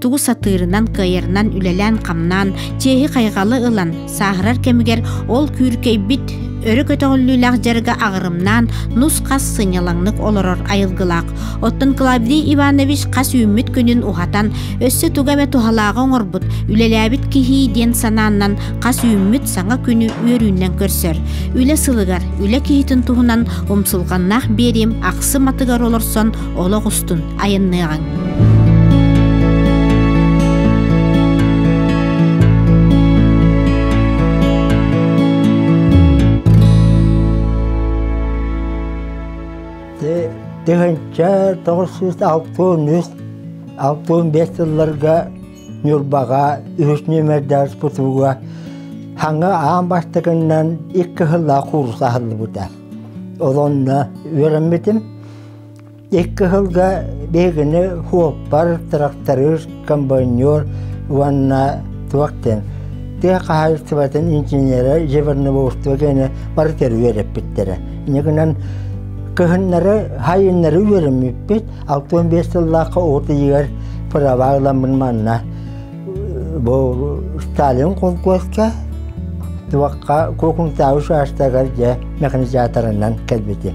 тугу сатыырынан кыайарынан үлэлээн-хамнаан чиэһи-хайҕалы ылан сааһырар кэмигэр ол күүркэйбит өрө көтөҕүллүүлээх дьарыга аҕырымнаан нус-хас сынньалаҥнык олорор айылгылаах оттон клавдий иванович хас үүммүт күнүн уһатан өссө тугу эмэ туһалааҕы оҥорбут үлэлээбит киһии диэн санааннан хас үүммүт саҥа күнү үөрүүнэн көрсөр үлэ сылыгар үлэ киһитин туһунан умсулҕаннаах биэриим ахсым атыгар олорсон олох устун айанныаҕыҥ тыһыынча тоҕус сүүс алтыын үс алтыын биэс сылларга Ньурбаҕа үһүс нүөмэрдээх спутуга хаҥа аан бастакыннан икки сыллаах куурус аһыллыбыта. Олонно үөрэммитим. Икки кыһылга биһигини хуоппар, тракторыыр, комбайнер уонна туох диэн тыа хаһаайыстыбатын инженерэ Зеверновоустуга кини бары тэрийэр эппиттэрэ. Инигинэн кыһыннары хайыннары үөрэммиппит, алты он биэс сыллаахха от ыйыгар праваа ыламмын манна бу Сталин колхозка туохха Кокунтау шаштагар дьэ механизаторынан кэлбитим.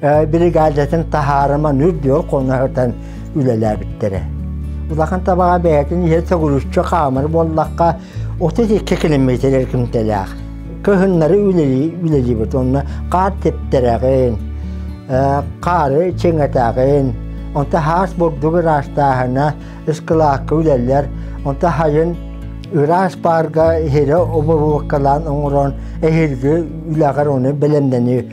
биригаадатын таһаарыман үрдүөр хоноһытан үлэлээбиттэрэ. Улахан табаҕа бэйэтин иһэ сөгүрүччү хаамар буоллахха, 32 километр күнтэлээх. Кыһыннары үлэлиибит онно хаар тептерэҕин, хаары чиҥэтэҕин, онта хаас бурдук ыраастааһына, ыскылаакка үлэлэр, онта хайын ыраас баарга иһирэ оборуоккалаан оҥорон эһирги үлэҕэр оны бэлэмнэни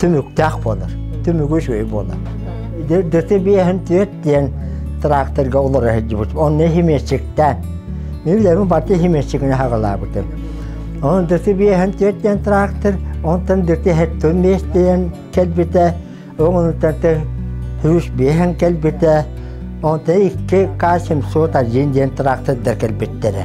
түмүктээх буолар, түмүгү үчүгэй буолар. ДТБ-һин түөрт диэн тракторга олоро сылдьыбыт. Онно химиэтчиктээн. Мен билэбин барда химиэтчигини хагалаабытым. Онон ДТБ-һин түөрт диэн трактор онтон дүртэ хэттон миэс диэн кэлбитэ. Оҕонуттан сүүс биэһин кэлбитэ. Онта икки К701 диэн трактордар кэлбиттэрэ.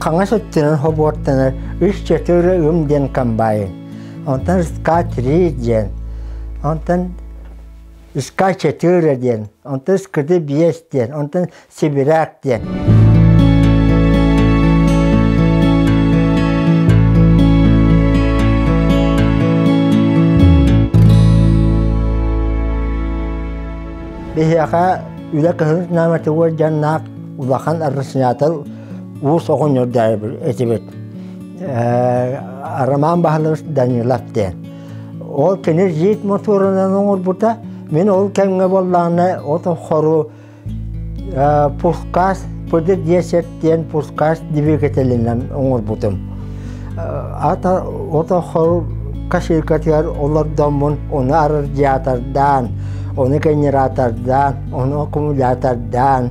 хаҥас өттүнэн хобуоттанар үс четыре үм диэн комбайн онтон ска три диэн онтон ска четыре диэн онтон скыды биэс диэн онтон сибиряк диэн биһиэхэ үлэ кыһын нааматыгар дьаннаах улахан арсенатор уус оҕонньордоойбор этибит Роман Баһылык Данилов диэн. Ол кини жит мотуорунан оҥорбута. Мин ол кэмҥэ буоллаҕына от хору пускас пыдыр диэсет диэн пускас двигателинэн оҥорбутум. Ата ото хор каширкатыгар олордоммун оны арардиатордаан, оны генератордаан, оны аккумулятордаан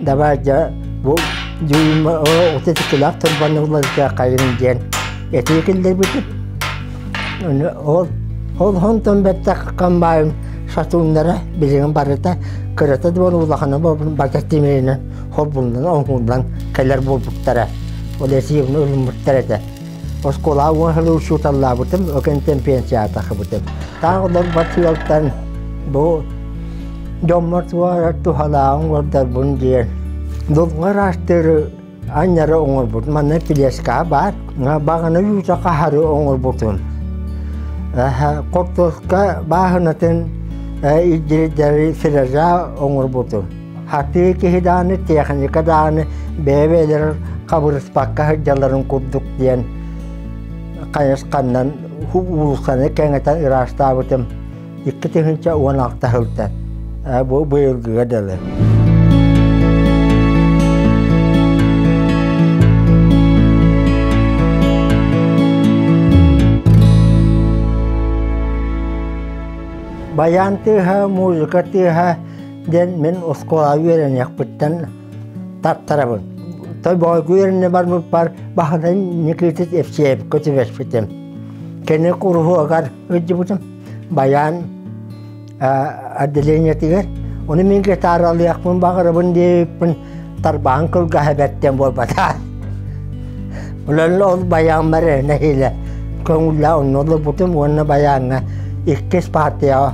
Давай дьэ бу тыллаах тылбанылларга хайын диэн этии киллэрбитим. Ол ол хонтон бэттэх комбайн сатууннара билигин барыта кырата да улахана бата тимейинен холбуннан оҥуллан кэлэр булбуттара. Ол эсиин өлмүттэр этэ. Оскуолаҕа уон сыл учууталлаабытым, ол кэнниттэн пенсияҕа тахсыбытым. Таах олорбот сыалтан бу дьоммор туһаҕар туһалааҕын олордорбун диэн дулҕа ыраастыыры анньары оҥорбут. Манна тележкаҕа баар. Баҕана үүтэ хаһары оҥорбутун. Хортуоска бааһынатын илдьирдэри сиража оҥорбутун. Атыы киһи даҕаны, техника даҕаны бэйэ-бэйэлэрин хабырыспакка сылдьалларын курдук диэн хайысханнан уулуссаны кэҥэтэн ыраастаабытым. Икки тыһыынча уон алта сылтан бу быйылгыга дылы. Баян тыаһа, музыка тыаһа диэн мин оскуолаҕа үөрэниэхпиттэн тартарабын. Тобоҕойго үөрэнэ барбыппар баһынан Никитит Евсеевка түбэспитим. Кини куруһуогар ыддьыбытым. Баян отделениетыгар. Оны мен гитаралыахпын баҕарабын диэбиппин тарбаҕын кылгаһа бэртэн буолбата. Буланна ол баяҥнар нэһилэ көҥүллэ онно лубутум уонна баяҥҥа иккис партияҕа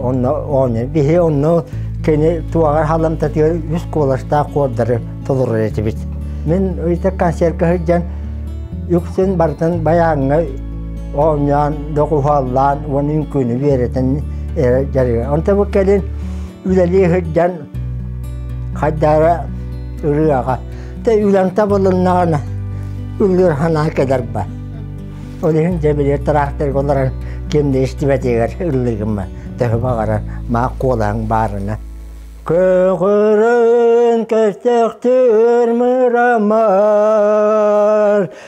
онно оонньо биһи онно кини туоҕар халамтатыгар үс куоластаах куордары толорор этибит. Мин үйтэ консервка сылдьан үксүн барытын баяҥҥа оонньоон, доҕуһаллаан уонна үҥкүүнү биэрэтэн эрэ дьарыга. Онтон бу кэлин үлэлии сылдьан хайдара ырыаҕа те үлэҥ табылыннаҕына үллүр ханаа кэдэрбэ ол иһин дьэ били тыраахтырга олорон ким да истибэтигэр ыллыгыммын төһө баҕарар маа куолаһыҥ баарына көҕөрөн көстөхтөр мырамар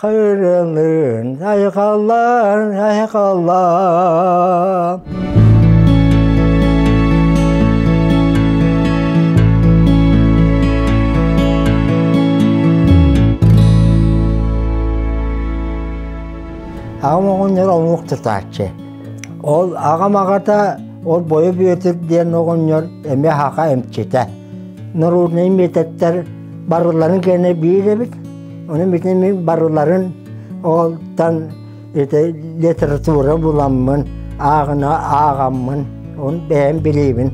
Кырылын айхаллан айхаллан Аҕам оҕонньор омук тутааччы. Ол аҕам аҕата ол Бойо Бүөтүр диэн оҕонньор эмиэ хаха эмчитэ. Народнай методтар барыларын кэнэ биир эбит. Ону бүтүн барыларын олтан ити литература буламмын, ааҕына ааҕаммын, ону бэйэм билиибин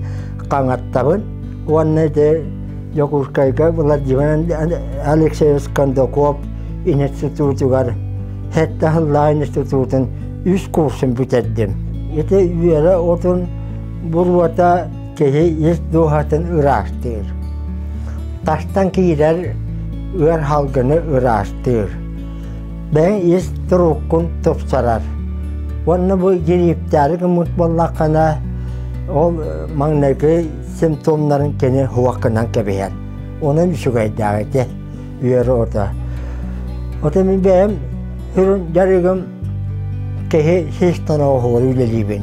хаҥаттабын уонна ити Дьокуускайга Владимир Алексеевич Кондаков институтугар сэттэ сыллаах институтун үс курсун бүтэрдим. Ити үөрэ отун буруота киһи ис дууһатын ыраастыыр. Тастан киирэр ыар халгыны ыраастыыр. Бэйэ ис туруккун тупсарар. Уонна бу гириэптээри гыммыт буоллаххына, ол маҥнайгы симптомнарын кини хуаккынан кэбиһэр. Оның үчүгэйдээҕити үөрөөрө. Отон мен бэйэм сүрүн жарыгым кэһи хистана оһуору үлэлиибин.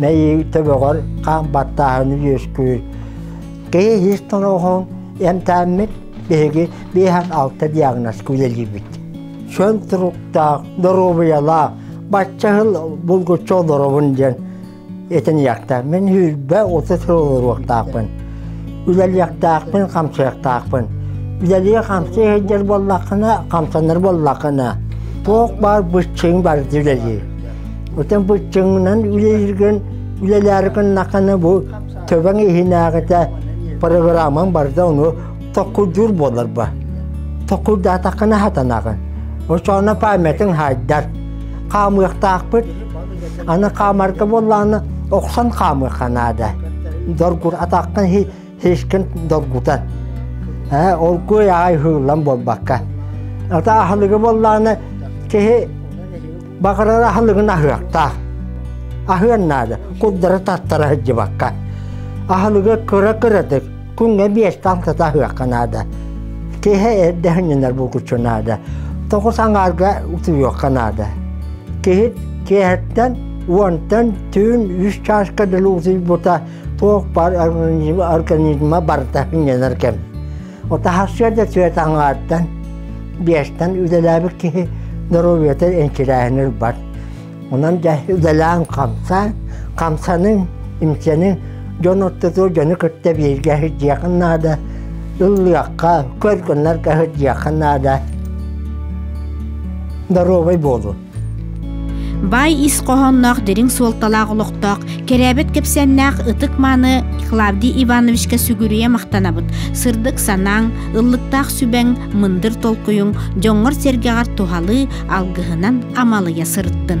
мэйии төбөҕөр хаан баттааһыны үөскүүр. Киһи ис тороҕун эмтээммит биһиги биэһэр алта диагнозка үлэлиибит. Чөл туруктаах, доруобуйалаах, баччаһыл булгуччу олоробун диэн этиниэхтэхпин, сүүрбэ отут сыл олоруохтаахпын. Үлэлиэхтээхпин, хамсыахтаахпын. Үлэлии хамсыы сылдьар буоллаххына, хамсанар буоллаххына, туох баар быччыҥ барыта үлэлии. Отон быччыҥынан үлэлэргин үлэлээри гыннаххына бу төбөҥ иһинээҕитэ программаҥ барда ону токкурдуур буолар ба. Токкурдаатаххына хатанаҕын. Очоона памятын хайдар. Хаамыахтаахпыт. Аны хаамарга буоллааны охсон хаамыахха наада. Доргур атаххын Хискин долгута. Ээ, ол куй аай хыыллан буолбакка. Ата ахылыгы боллааны киһи бакырар ахылыгын аһыахтаах. Аһыан наада, курдары таттара сылдьыбакка. Ахылыгы кыра-кыратык, күҥҥэ биэстан тата аһыахха наада. Киһи эрдэһиннэр булгучу наада. Тоҕус аңаарга утуйуохха наада. Киһи киэһэттэн уонтан түүн үс чааска да ултуйбута туох бар организма барыта иннэнэр кэм. Отахасса да түөт аңааттан, биэстэн үлэлээбит киһи доруобуйата энкилээһинэр бар. Онон да үлэлээн хамсаан, хамсанын, имсэнин дьон ортоту дьону кытта бииргэ сылдьыахын наада, ыллыахха, көр гыннарга сылдьыахха наада. Доруобай буолун. Баай ис хоһоонноох дириҥ суолталаах олохтоох, кэрээбит кэпсээннээх ытык-мааны Клавдий Ивановичка сүгүрүйэ махтанабыт. Сырдык санааҥ, ыллыктаах сүбэҥ, мындыр толкуйуҥ дьоҥҥор-сэргэҕэр туһалыы, алгыһынан амалыйа сырыттын.